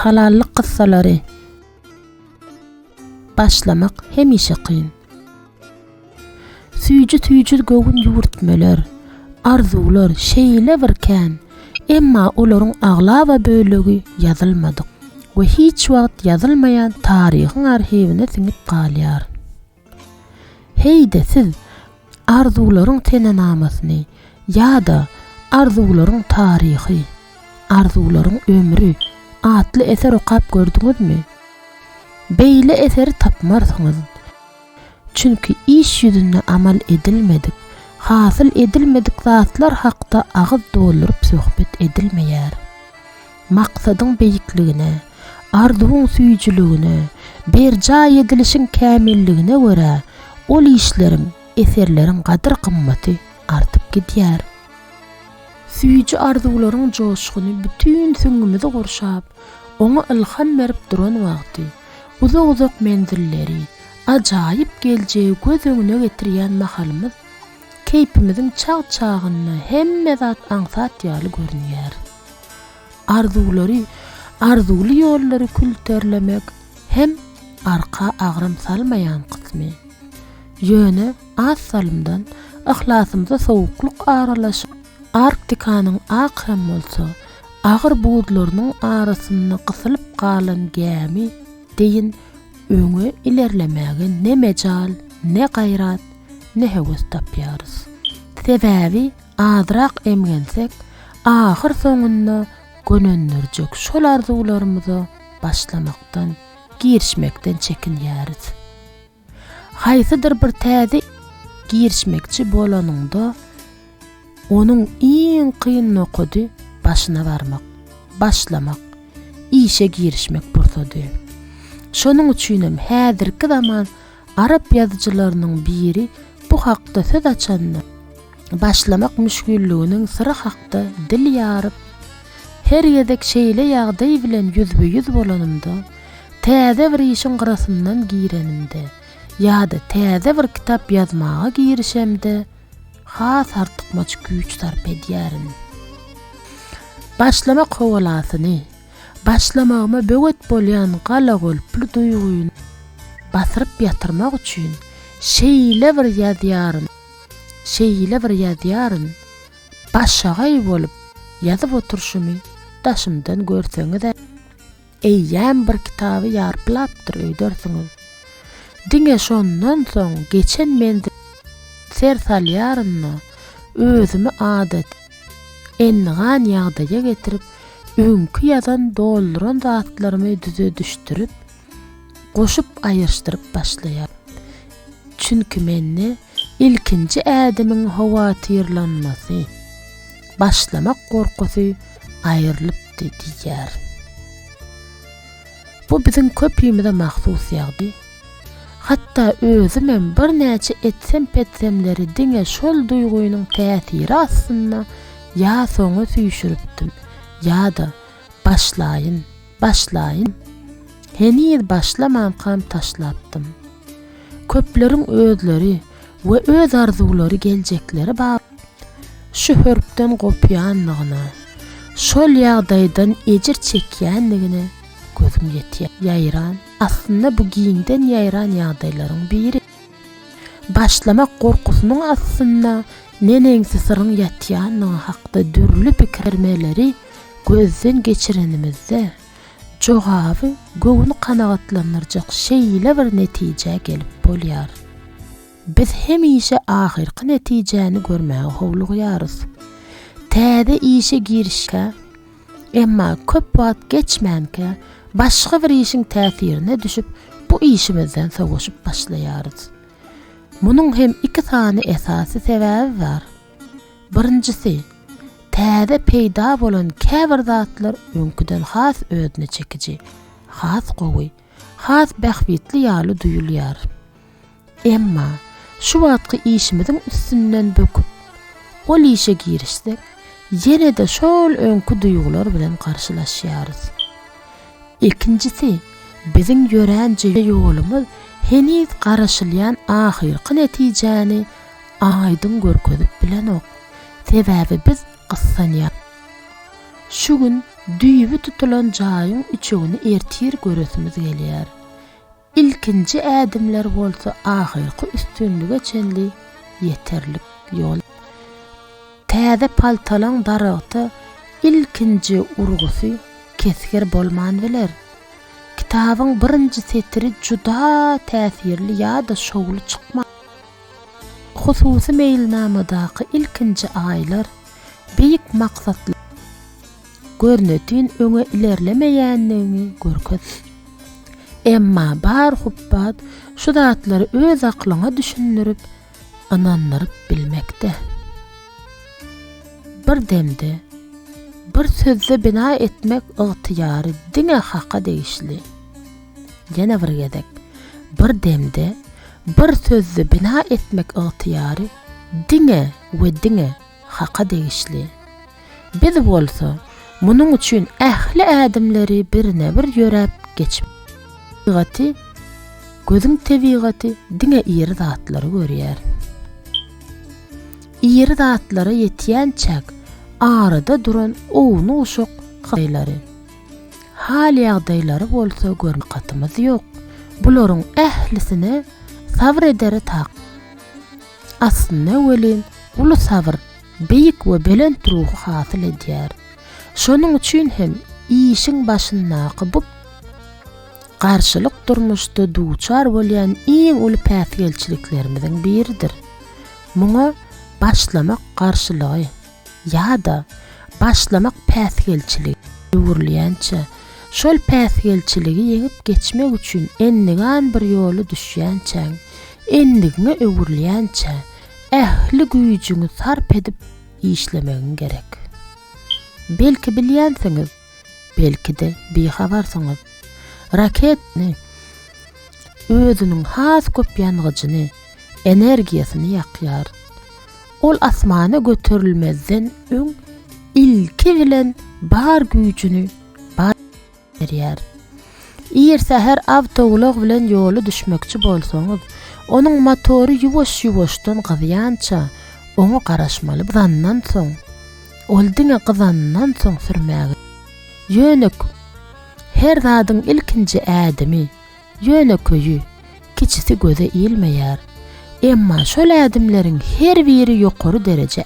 Halallyk gyssalary Başlamak hemişe kyn. Süýji-süýji göwün ýüwürtmeler, arzuwlar şeýle bir kän, emma olaryň aglaba bölegi ýazylmadyk we hiç wagt ýazylmaýan taryhyň arhiwine siňip galýar. Heý-de siz Arzuwlaryň senenamasyny ýa-da Arzuwlaryň taryhy, Arzuwlaryň ömri atly eser okap gördüňizmi? Beýle eseri tapmarsyňyz. Çünki iş ýüzünde amal edilmedik, hasyl edilmedik zatlar hakda agyz dolduryp söhbet edilmeýär. Maksadyň beýikligine, arzuwyň süýjüligine, berjaý edilişiň kämilligine görä, ol işleriň, eserleriň gadyr-gymmaty artyp gidýär. Süýji arzuwlaryň joşguny bütin süňňümizi gurşap, oňa ylham berip duran wagty, uzak-uzak menzilleri, ajaýyp geljegi göz öňüne getirýän mahalymyz, Keýpimiziň çag-çagynda hemme zat aňsat ýaly görünýär. Arzuwlary, arzuwly ýollary külterlemek hem arka agram salmaýan kysmy. Ýöne az salymdan yhlasymyza sowuklyk aralaşyp, Arktikanyň ak hem bolsa agyr buzlarynyň arasynda gysylyp galan gämi deýin öňe ilerlemäge ne mejal, ne gaýrat, ne höwes tapýarys. Sebäbi azrak emgensek, ahyrsoňunda gönendirjek şol arzuwlarymyza başlamakdan, girişmekden çekinýäris. Haýsydyr bir täze girişmekçi bolanyňda, onuň iň kyn nokady başyna barmak, başlamak, işe girişmek pursady. Şonuň üçinem häzirki zaman Arap ýazyjylarynyň biri bu hakda söz açanda, başlamak müşgilliginiň syry hakda dil ýaryp, Her gezek şeýle ýagdaý bilen ýüzbe-ýüz bolanymda, täze bir işiň gyrasyndan girenimde ýa-da täze bir kitap ýazmaga girişemde has artykmaç güýç sarp edýärin. Başlamak howalasyny, Başlamagyma böwet bolýan galagolply duýgyny basyryp ýatyrmak üçin şeýle bir ýazýaryn, şeýle bir ýazýaryn, başagaý bolup ýazyp oturyşymy daşymdan görseňiz-ä, eýýäm bir kitaby ýarplapdyr öýdersiňiz. Diňe şondan soň geçen menzilime ser salýaryn-da, özümi adaty, Endigan ýagdaýa getirip, öňki ýazan dolduran zatlarymy düzedişdirip, goşup aýyrşdyryp başlaýar. Çünki mende ilkinji ädimiň howatyrlanmasy, başlamak gorkusy aýrylypdy diýýär. Bu biziň köpimize mahsus ýagdy. Hatda özümem birnäçe etsem-petsemleri diňe şol duýgynyň täsiri astynda ýa soňa süýşüripdim, ýa-da, başlaýyn, başlaýyn, heniz başlamankam taşlapdym. Köpleriň özleri we öz arzuwlary geljekleri bap şu hörpden gopýanlygyna, şol ýagdaýdan ejir çekýänligine gözüm ýetýär. Ýaýran. Aslynda bu giňden ýaýran ýagdaýlaryň biri. Başlamak gorkusynyň astynda neneňsi syryň ýatýandygy hakda dürli pikirmeleri gözden geçirenimizde, jogaby göwni kanagatlandyrjak şeýle bir netijä gelip bolýar. Biz hemişe ahyrky netijäni görmäge howlugýarys. Täze işe girişkä Emma köp wagt geçmänkä başga bir işiň täsirine düşüp, bu işimizden sowaşyp başlaýarys. Munuň hem iki sany esasy sebäbi bar. Birinjisi, täze peýda bolan käbir zatlar öňküden has özüne çekiji, has gowy. has bähbitli ýaly duýulýar. Emma, şu wagtky işimiziň üstünden böküp, ol işe girişsek, ýene-de şol öňki duýgular bilen garşylaşýarys. Ikinjisi, biziň ýörän ýolumyz heniz garaşylýan ahyrky netijäni aýdyň görkezip bilenok. Sebäbi biz gyssanýar. Şu gün düýbi tutulan jaýyň üçegini ertir göresimiz gelýär. Ilkinji ädimler bolsa ahyrky üstünlige çenli ýeterlik ýol. Täze paltalaň daragta ilkinji urgusy kesgir bolman biler. Kitabyň birinji setiri juda täsirli ýa-da şowly çykmar. Hususy meýilnamadaky ilkinji aýlar beýik maksatly görnetin öňe ilerlemeýändigini görkez. Emma bar hupbat şu zatlary öz aklyňa düşündirip, ynandyryp bilmekde. Bir demde, bir sözde bina etmek ygtyýary diňe Haka degişli. Ýene bir gezek, bir demde, Bir sözde bina etmek ygtyýary diňe we diňe Haka degişli. Biz bolsa munuň üçin ähli ädimleri birine-bir ýöräp geçip, tebigaty, gözüň tebigaty diňe iri zatlary görýär. Iri zatlara ýetýänçäk arada duran ownuk-uşak hytaýlary. Hal-ýagdaýlary bolsa görmän takatymiz ýok. Bularyň ählisine sabyr edere tak. Aslynda welin, uly sabyr beýik we belent ruhy hasyl edýär. Şonuň üçin hem işiň başyndaky bu garşylyk durmuşda duçar bolýan iň uly päsgelçiliklerimiziň biridir. Muňa başlamak garşylygy. ýa-da başlamak päsgelçiligi öwrülýänçä, şol päsgelçiligi ýeňip geçmek üçin endigan bir ýoly düşýänçäň, endigiňe öwrülýänçä ähli güýjüňi sarp edip işlemegiň gerek. Belki bilýänsiňiz, Belki-de bihabarsyňyz. Raketni özüniň has köp ýangyjyny, energiýasyny ýakýar. Ol asmana göterilmezden öň ilki bilen bar güýjüni berýär. Ir säher awtoulag bilen ýola düşmekçi bolsaňyz, onuň motory ýuwaş-ýuwaşdan gyzýança oňa garaşmaly. Zandan soň, Ol diňe gyzandan soň sürmäge. Ýönek, Her zadyň ilkinji ädimi, ýönekeýi, kiçisi göze ilmeýär. Emma şol ädimleriň her biri ýokary dereje.